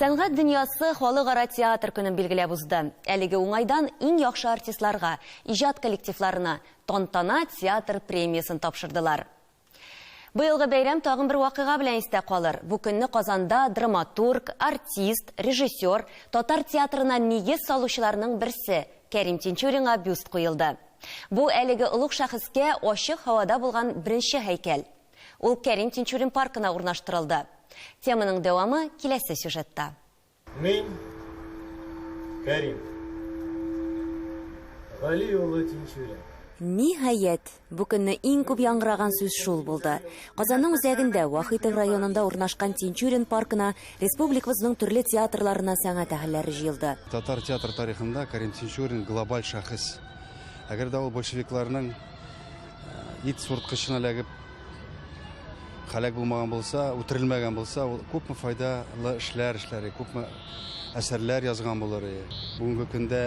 Сәнгать дөньясы халыкара театр көнен билгеләп узды. Әлеге уңайдан иң яхшы артистларга, иҗат коллективларына Тантана театр премиясен тапшырдылар. Быелгы бәйрәм тагын бер вакыйга белән истә калыр. Бу көнне Казанда драматург, артист, режиссер, татар театрына нигез салучыларның берсе Кәрим Тинчуринга бюст куелды. Бу әлеге олуг шәхескә ачык һавада булган беренче һәйкәл. Ул Кәрим Тинчурин паркына урнаштырылды. Теманың дәвамы киләсе сюжетта. Мин, Кәрим Гали улы Тинчурин. Ниһаять, бу көнне иң күп яңгыраган сүз шул булды. Казанның үзәгендә, Вахитов районында урнашкан Тинчурин паркына Республикабызның төрле театрларына сәнгать әһелләре җыелды. Татар театр тарихында Карим Тинчурин глобаль шәхес. Әгәр дә ул большевикларның э, ит сурткычына эләгеп һәлак булмаган булса, үтерелмәгән булса, ул күпме файдалы эшләр эшләре, күпме әсәрләр язган булыр. Бүгенге көндә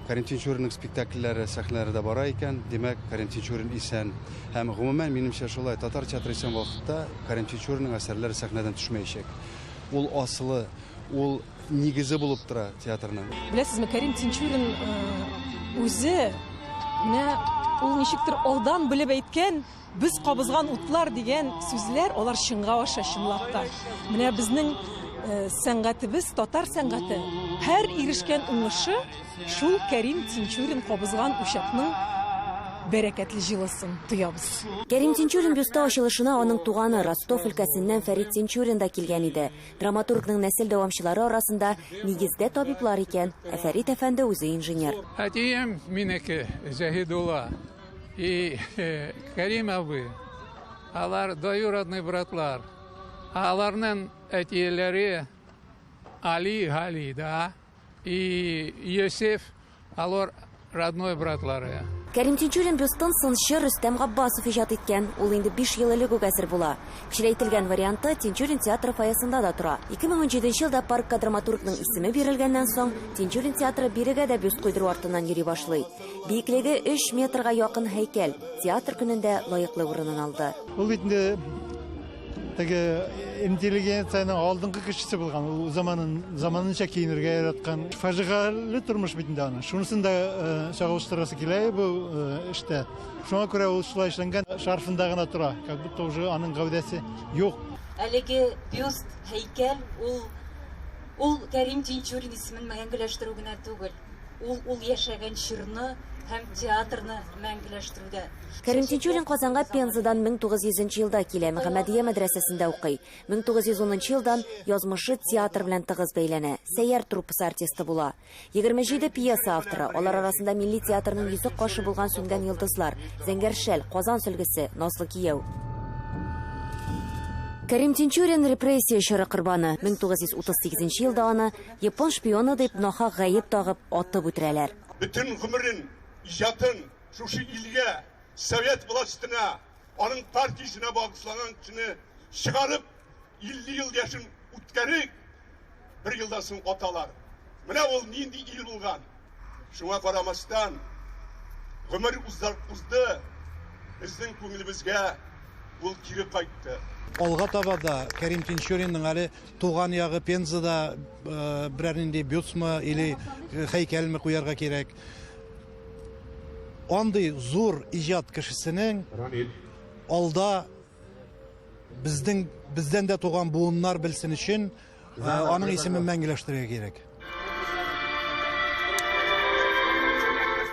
Кәрим Тинчуринның спектакльләре сәхнәләрдә бара икән, димәк, Кәрим Тинчурин исән. Һәм гомумән, минемчә, шулай татар театры исән вакытта Кәрим Тинчуринның әсәрләре сәхнәдән төшмәячәк. Ул асылы, ул нигезе булып тора театрның. Беләсезме, Кәрим Тинчурин үзе менә ул ничектер алдан белеп әйткән, Без кабызган утлар дигән сүзләр алар чынга аша чынлап та. Менә безнең э, сәнгатебез, татар сәнгате. Һәр ирешкән уңышы шул Кәрим Тинчурин кабызган учакның бәрәкәтле җылысын тоябыз. Кәрим Тинчурин бюсты ачылышына аның туганы Ростов өлкәсеннән Фәрит Тинчурин да килгән иде. Драматургның нәсел дәвамчылары арасында нигездә табиблар икән, ә Фәрит әфәнде үзе инженер. Әтием минеке, Зәһидулла. И Кәрим абый, алар доюродный братлар. Аларның әтиеләре Али Гали, да, и Йосиф, алар родной братлары. Кәрим Тинчурин Рөстем сынчы Рөстәм Габбасов иҗат иткән. Ул инде 5 ел элек үк әзер була. Кечерәйтелгән варианты Тинчурин театры фойесында да тора. 2017 елда паркка драматургның исеме бирелгәннән соң, Тинчурин театры бирегә дә бюст куйдыру артыннан йөри башлый. Биеклеге 3 метрга якын һәйкәл театр көнендә лаеклы урынын алды. Ул бит инде теге интеллигенциянең алдынгы кешесе булган, ул заманын заманынча киенергә яраткан. Фаҗигале тормыш бит инде аның. Шунысын да э, чагылыштырасы килә бу э, эштә. Шуңа күрә ул шулай эшләнгән, шарфында гына тора, как будто уже аның гәүдәсе юк. Әлеге бюст, һәйкәл ул ул Кәрим Тинчурин исемен мәңгеләштерү генә түгел. Ул ул яшәгән чорны һәм театрны мәңгеләштерүдә. Кәрим Тинчурин Казанга Пензадан 1900 нче елда килә, Мөхәммәдия мәдрәсәсендә укый. 1910 нчы елдан язмышы театр белән тыгыз бәйләнә, Сәйяр труппасы артисты була. 27 пьеса авторы, алар арасында милли театрның йөзек кашы булган Сүнгән йолдызлар, Зәңгәр шәл, Казан сөлгесе, Назлы кияү. Кәрим Тинчурин, репрессия чоры корбаны. 1938 елда аны Япон шпионы дип нахак гаеп тагып, атып үтерәләр. Бөтен гомерен, иҗатын шушы илгә, совет властена, аның партиясенә багышлаган кешене чыгарып, 50 ел яшен үткәрик, бер елдан соң аталар. Менә ул нинди ил булган! Шуңа карамастан, гомер узды, безнең күңелебезгә ул кире кайтты. Алга таба да Кәрим Тинчуринның әле туган ягы Пензада э, берәр нинди бюстмы или э, хәйкәлме куярга кирәк. Андый зур иҗат кешесенең алда безнең бездән дә туган буыннар белсен өчен Ә, аның исемен мәңгеләштерергә кирәк.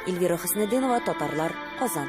Эльвира Хөснетдинова, Татарлар, Казан.